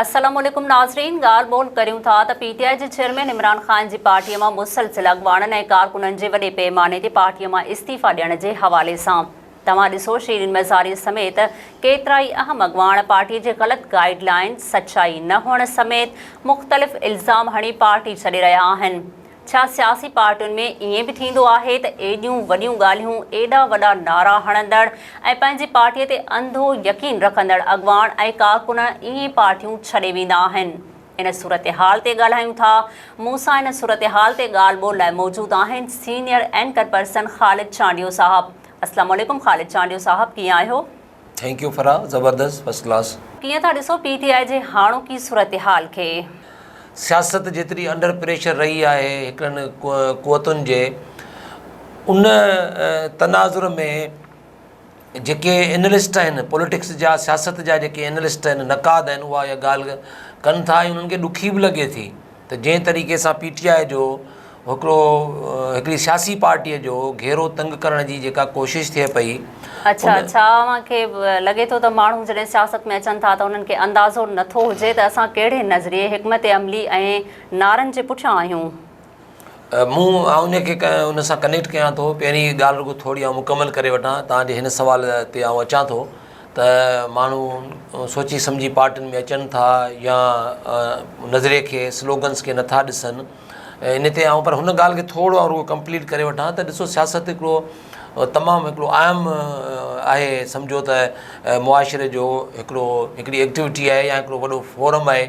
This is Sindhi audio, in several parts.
السلام عليڪم ناظرين ڳالهه ٻولهه ڪريون ٿا ته پي ٽي آء جي چيئرمين عمران خان جي پارٽي مان مسلسل اڳواڻن ۽ ڪارڪنن جي وڏي پيماني تي پارٽي مان استعيفا ڏيڻ جي حوالي سان توهان ڏسو شيرين مزاري سميت ڪيترائي اهم اڳواڻ پارٽي جي غلط گائيڊ لائين سچائي نه هئڻ سميت مختلف الزام هڻي پارٽي ڇڏي رهيا آهن ڇا سياسي پارٽين ۾ ائين به ٿيندو آهي ته ايڏيون وڏيون ڳالهيون، ايڏا وڏا نعرا هڻندڙ ۽ پنهنجي پارٽيء تي انڌو يقين رکندڙ اڳواڻ ۽ ڪارڪن ائين پارٽيون ڇڏي ويندا آهن؟ ان صورتحال تي ڳالهايون ٿا. مون سان ان صورتحال تي ڳالهه ٻولهه لاء موجود آهن senior anchor person Khalid Chandio صاحب. السلام عليڪم خالد چانڊيو صاحب ڪيئن آهيو؟ ٿينڪ يو فرح زبردست فرسٽ ڪلاس. ڪيئن ٿا ڏسو پي ٽي آء جي هاڻوڪي صورتحال کي؟ سياست جيتري انڊر پريشر رهي آهي هڪڙن قوتن جي ان تناظر ۾ جيڪي اينلسٽ آهن پوليٽڪس جا سياست جا جيڪي اينلسٽ آهن نقاد آهن اها اها ڳالهه ڪن ٿا ۽ انهن کي ڏکي به لڳي ٿي ته جنهن طريقي سان پي ٽي آء جو هڪڙو هڪڙي سياسي پارٽيء جو گهيرو تنگ ڪرڻ جي جيڪا ڪوشش ٿئي پئي اڇا ان ڇا اوهان کي لڳي ٿو ته ماڻهو جڏهن سياست ۾ اچن ٿا ته انهن کي اندازو نه ٿو هجي ته اسان ڪهڙي نظريي، حڪمت عملي ۽ نعرن جي پٺيان آهيون؟ مون آئون ان کي ان سان ڪنيڪٽ ڪيان ٿو پهرين ڳالهه رڳو ٿوري آئون مڪمل ڪري وٺان تان جي هن سوال تي آئون اچان ٿو. ته ماڻهو سوچي سمجهي پارٽين ۾ اچن ٿا يا نظري کي سلوگنس کي نٿا ڏسن ان تي آئون پر هن ڳالهه کي ٿورو آئون رڳو ڪمپليٽ ڪري وٺان ته ڏسو سياست هڪڙو تمام هڪڙو اهم آهي سمجهو ته معاشري جو هڪڙو هڪڙي ايڪٽيوٽي آهي يا هڪڙو وڏو فورم آهي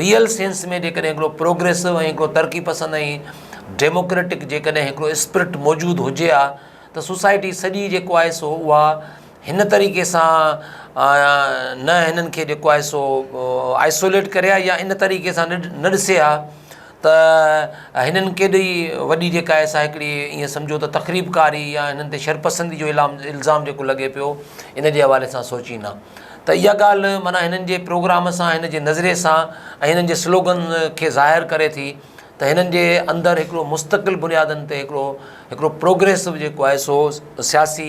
ريئل سينس ۾ جيڪڏهن هڪڙو پروگريسو ۽ هڪڙو ترقي پسند ۽ ڊيموڪريٽڪ جيڪڏهن هڪڙو اسپرٽ موجود هجي ها ته سوسائٽي سڄي جيڪو آهي سو اها هن طريقي سان نه هنن کي جيڪو آهي سو آئسوليٽ ڪري ها يا ان طريقي سان نه ڏسي ها ته هنن ڪيڏي وڏي جيڪا آهي سا هڪڙي ائين سمجهو ته تخريبڪاري يا هنن تي شرپسندي جو الزام جيڪو لڳي پيو ان جي حوالي سان سوچين ها ته اها ڳالهه معنيٰ هنن جي پروگرام سان هن جي نظري سان ۽ هنن جي سلوگن کي ظاهر ڪري ٿي ته هنن جي اندر هڪڙو مستقل بنيادن تي هڪڙو هڪڙو پروگريسو جيڪو آهي سو سياسي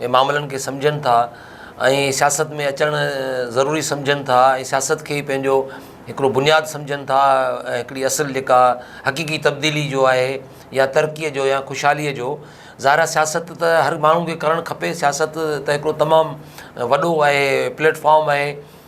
جي معاملن کي سمجهن ٿا ۽ سياست ۾ اچڻ ضروري سمجهن ٿا ۽ سياست کي ئي پنهنجو هڪڙو بنياد سمجهن ٿا ۽ هڪڙي اصل جيڪا حقيقي تبديلي جو آهي يا ترقيء جو يا خوشحاليء جو ظاهر آهي سياست ته هر ماڻهو کي ڪرڻ کپي سياست ته هڪڙو تمام وڏو آهي پليٽ فارم آهي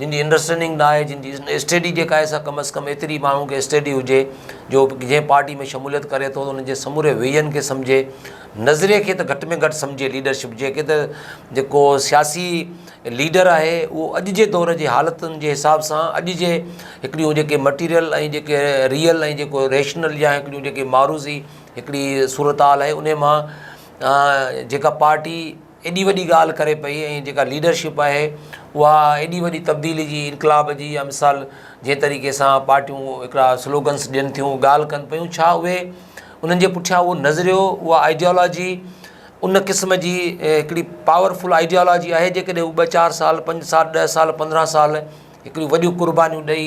جن جي انڊرسٽينڊنگ ناهي، جن جي اسٽيڊي جيڪا آهي سا ڪم از ڪم ايتري ماڻهن کي اسٽيڊي هجي جو جنهن پارٽي ۾ شموليت ڪري ٿو ان جي سموري ويزن کي سمجهي، نظريي کي ته گهٽ ۾ گهٽ سمجهي ليڊرشپ جيڪي ته جيڪو سياسي ليڊر آهي اهو اڄ جي دور جي حالتن جي حساب سان اڄ جي هڪڙيون جيڪي مٽيريل ۽ جيڪي ريئل ۽ جيڪو ريشنل يا هڪڙيون جيڪي معروضي هڪڙي صورتحال آهي ان مان جيڪا پارٽي ايڏي وڏي ڳالهه ڪري پئي ۽ جيڪا ليڊرشپ آهي اها ايڏي وڏي تبديلي جي انقلاب جي يا مثال جنهن طريقي سان پارٽيون هڪڙا سلوگنس ڏين ٿيون ڳالهه ڪن پيون ڇا اهي انهن جي پٺيان اهو نظريو اها آئيڊيالاجي ان قسم جي هڪڙي پاور فل آئيڊيالاجي آهي جيڪڏهن هو ٻه چار سال پنج سال ڏهه سال پندرهن سال هڪڙيون وڏيون قربانيون ڏئي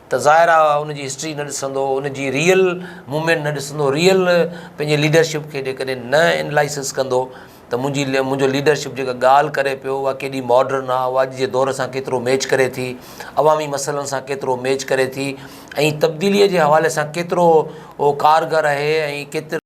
ته ظاهر آ ان جي هسٽري نه ڏسندو، ان جي ريئل موومينٽ نه ڏسندو، ريئل پنهنجي ليڊرشپ کي جيڪڏهن نه انلائسز ڪندو ته منهنجي منهنجو ليڊرشپ جيڪا ڳالهه ڪري پيو اها ڪيڏي ماڊرن آ، اها اڄ جي دور سان ڪيترو ميچ ڪري ٿي، عوامي مسئلن سان ڪيترو ميچ ڪري ٿي ۽ تبديليء جي حوالي سان ڪيترو اهو ڪارگر اهي ۽ ڪيترو.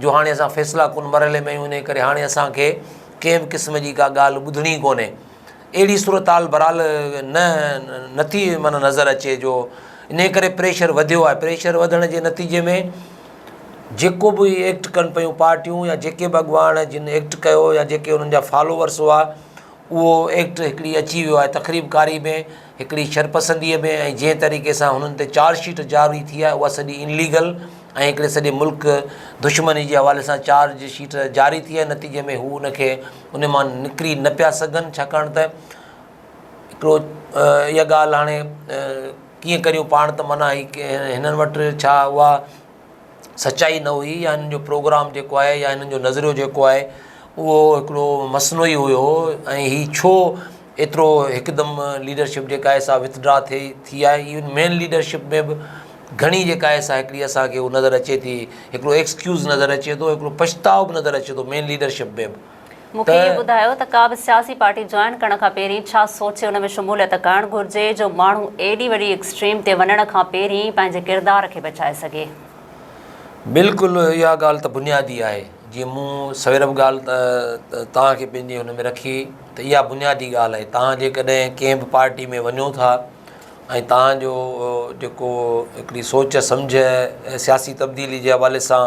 جو هاڻي اسان فيصلا ڪن مرحلي ۾ آهيون انهيء ڪري هاڻي اسان کي ڪنهن به قسم جي ڪا ڳالهه ٻڌڻي ئي ڪونهي. اهڙي صورتحال بهرحال نه نٿي معنيٰ نظر اچي جو انهيء ڪري پريشر وڌيو آهي. پريشر وڌڻ جي نتيجي ۾ جيڪو به ايڪٽ ڪن پيون پارٽيون يا جيڪي به اڳواڻ جن ايڪٽ ڪيو يا جيڪي انهن جا فالوورس هئا اهو ايڪٽ هڪڙي اچي ويو آهي تقريب ڪاري ۾ هڪڙي شرپسنديء ۾ ۽ جنهن طريقي سان هنن تي چارج شيٽ جاري ٿي آهي اها سڄي ان ليگل ۽ هڪڙي سڄي ملڪ دشمني جي حوالي سان چارج شيٽ جاري ٿي آهي نتيجي ۾ هو ان کي ان مان نڪري نه پيا سگهن ڇاڪاڻ ته هڪڙو اها ڳالهه هاڻي ڪيئن ڪريون پاڻ ته معنيٰ هي ڪي هنن وٽ ڇا اها سچائي نه هئي يا هنن جو پروگرام جيڪو آهي يا هنن جو نظريو جيڪو آهي اهو هڪڙو مصنوعي هيو ۽ هي ڇو ايترو هڪدم ليڊرشپ جيڪا آهي سا وٿڊرا ٿئي ٿي آهي ايون مين ليڊرشپ ۾ به گهڻي جيڪا آهي سا هڪڙي اسان کي هو نظر اچي ٿي هڪڙو ايڪسڪيوز نظر اچي ٿو هڪڙو پڇتاء به نظر اچي ٿو مين ليڊرشپ ۾ به مون کي اهو ٻڌايو ته ڪا به سياسي پارٽي جوائن ڪرڻ کان پهرين ڇا سوچي ان ۾ شموليت ڪرڻ گهرجي جو ماڻهو ايڏي وڏي ايڪسٽريم تي وڃڻ کان پهرين پنهنجي ڪردار کي بچائي سگهي. بلڪل اها ڳالهه ته بنيادي آهي جيئن مون سوير به ڳالهه توهان کي پنهنجي هن ۾ رکي ته اها بنيادي ڳالهه آهي توهان جيڪڏهن ڪنهن به پارٽي ۾ وڃو ٿا ۽ توهان جو جيڪو هڪڙي سوچ سمجهه سياسي تبديلي جي حوالي سان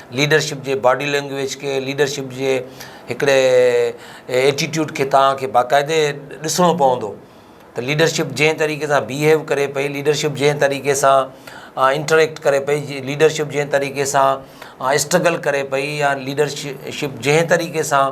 ليڊرشپ جي باڊي لينگويج کي ليڊرشپ جي هڪڙي ايٽيٽيوڊ کي توهان کي باقاعدي ڏسڻو پوندو ته ليڊرشپ جنهن طريقي سان بيهيو ڪري پئي ليڊرشپ جنهن طريقي سان انٽريڪٽ ڪري پئي جي ليڊرشپ جنهن طريقي سان اسٽرگل ڪري پئي يا ليڊرشپ جنهن طريقي سان